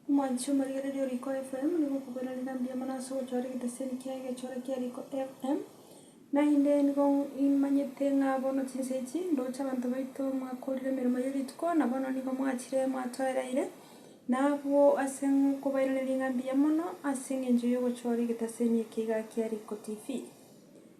Omwanche omorigereria o Riiko FM nigo okobwera rire mbuya mono ase ogochora egeteseni kiaye egechore kia Riiko FM. Naende nigo imanyete ng'a bono chinsa echi ndoche abanto baito omwaka orire emeremo ye rituko na bono nigo mwachire mwatoereire. Na abwo ase nkobairaneria ng'a mbuya mono ase engencho y'ogochora egeteseni eke iga kia Riiko TV.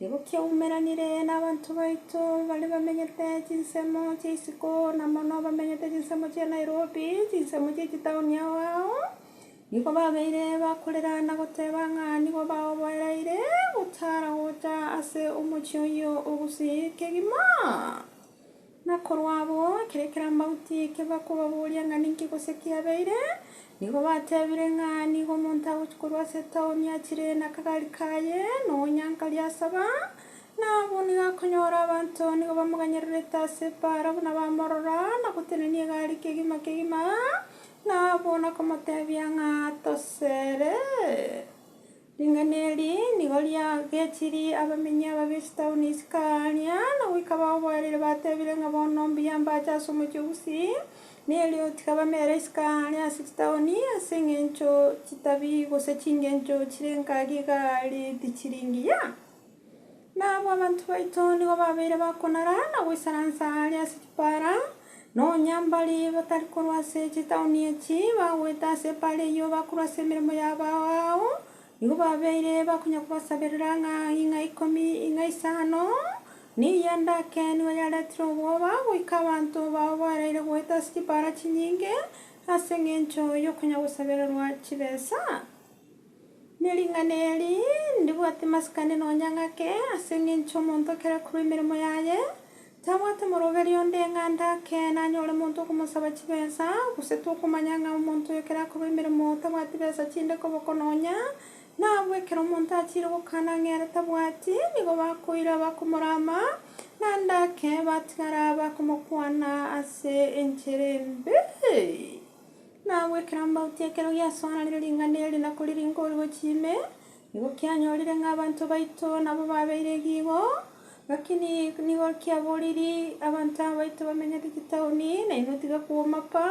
Nigo kiaumeranire nabanto baito bare bamenyete chinsemo chia isiko, na mono bamenyete chinsemo chia Nairobi, chinsemo chie chitaoni ao ao. Nigo babeire bakorera na goteba ng'a nigo baoboereire gotara gocha ase omochie oyio ogusii kegima. Na korwa abwo, ekero ekerambaoti eke bakobaboria ng'a ninki gose kiabeire, nigo batebire ng'a nigo omonto agochia korwa ase etaoni achire nakagari kaye, na oonyankari asaba, na abwo nigo akonyora abanto nigo bamoganyererete ase ebaara buna bamorora, na gotenenia egari kegima kegima, na abwo nakomotebia ng'a, Tosere. Ring'ana eri nigo riagechirie abamenyi aba b'echitauni isiko aaria, na goika baboerire batebire ng'a bono mbuya mbache ase omochie o Gusii, na erio tiga bamere isiko aaria ase chitauni, ase engencho chitabi gose chingencho chire ngaki iga ri tichiri ngiya. Nabo abanto baito nigo babeire bakonara na goisaransa aare ase chipaara, na onye mbare batari korwa ase chitaoni echi bagoeta ase epaara eyio bakorwa ase emeremo yabo ao ao, nigo babeire bakonya kobasaberera ng'a ing'a ikomi, ing'a isano, na eya ndake nigo yaretire obwoba goika abanto bao baraire goeta ase chipaara chinyinge ase engencho y'okonya gosabererwa chibesa. Ne ring'ana eri, ndibwate masikani nonya ng'ake, ase engencho omonto ekero akorwa emeremo yaye, tabwate moroberio onde ng'a ande ake nanyore monto okomosaba chibesa, gose tokomanya ng'a omonto oyo ekero akorwa emeremo tabwati besa chinde koboko nonya. Na abwo ekero omonto achiire gokana ng'a ere tabwati, nigo bakoira bakomorama, na ande ake batigara bakomokwana ase enchera embe. Nabo ekero amauti ekero giasoananire ring'ana eri na koriringa orogochi ime, nigo kianyorire ng'a abanto baito nabo babeire egiigo, gaki ni nigo kiaboriri abanto aba baito bamenyete chitaoni, na inwe tiga kwomapa,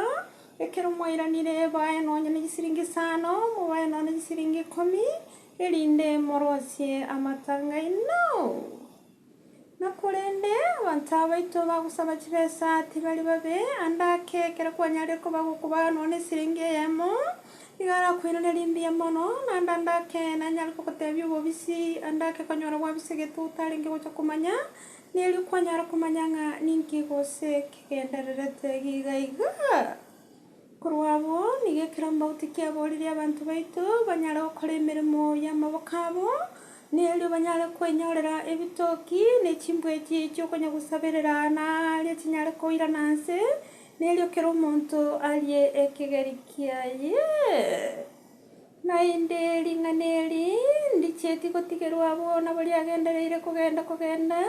ekero mwairanire bae nonye ne chisiringi isano, mobae nonye ne chisiringi ikomi, erinde morosie amatanga aino. Na korende abanto abaito bagosaba chibesa tibari babe ande ake, ekero kwanyarire koba gokoba nonya nesiringi eyemo, nigo arakoirana rimbuya mono, naende ande ake nanyare kogotebia obobisi, ande ake konyora gwabisa gete otarenge gocha komanya, na erio kwanyare komanya ng'a ninki gose kegendererete iga iga. Korwa abwo, nigo ekerombauti kiaboorire abanto baito banyare gokora emeremo y'amaboko abo, na erio banyare kwenyorera ebitoki, ne chimbwechi chi'okonyagosaberera, na aaria chinyare koirana nse, na erio kera omonto arie ekegeri kiaye. Naende ring'ana eri ndichieti gotigerwa abwo nabo riagendereire kogenda kogenda,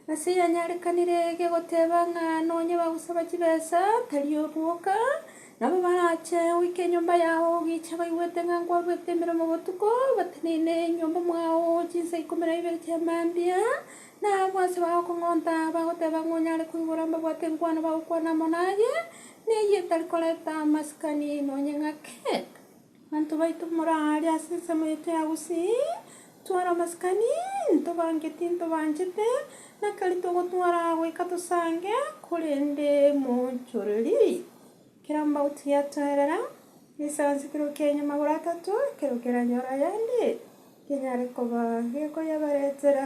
nase yanyarekanire gegoteba ng'a nonye bagosaba chibesa tari oboka, nabo barache goika enyomba yao ogicha baigwete ng'a nkwarwete emeremo botuko, bateneine enyomba mwao chinsa ikomi na ibere chia mambia, na abwo ase bagokong'onta bagoteba ng'a onyare koigora mbabwate enkwano bagokwana amo naye, na eyio etari koreta amasikani nonye ng'ake. Abanto baito more aa aria ase ensemo yaito ya Gusii, ntware amasikani, ntobange tintobanchete, na keri togotwara goika tosange, korende moonchoreri. Ekero amauti yatoerera, nisaanse ekerogo kiaino magoro atato, ekero keranyore ayande, kenyare koba gekoyabaretera.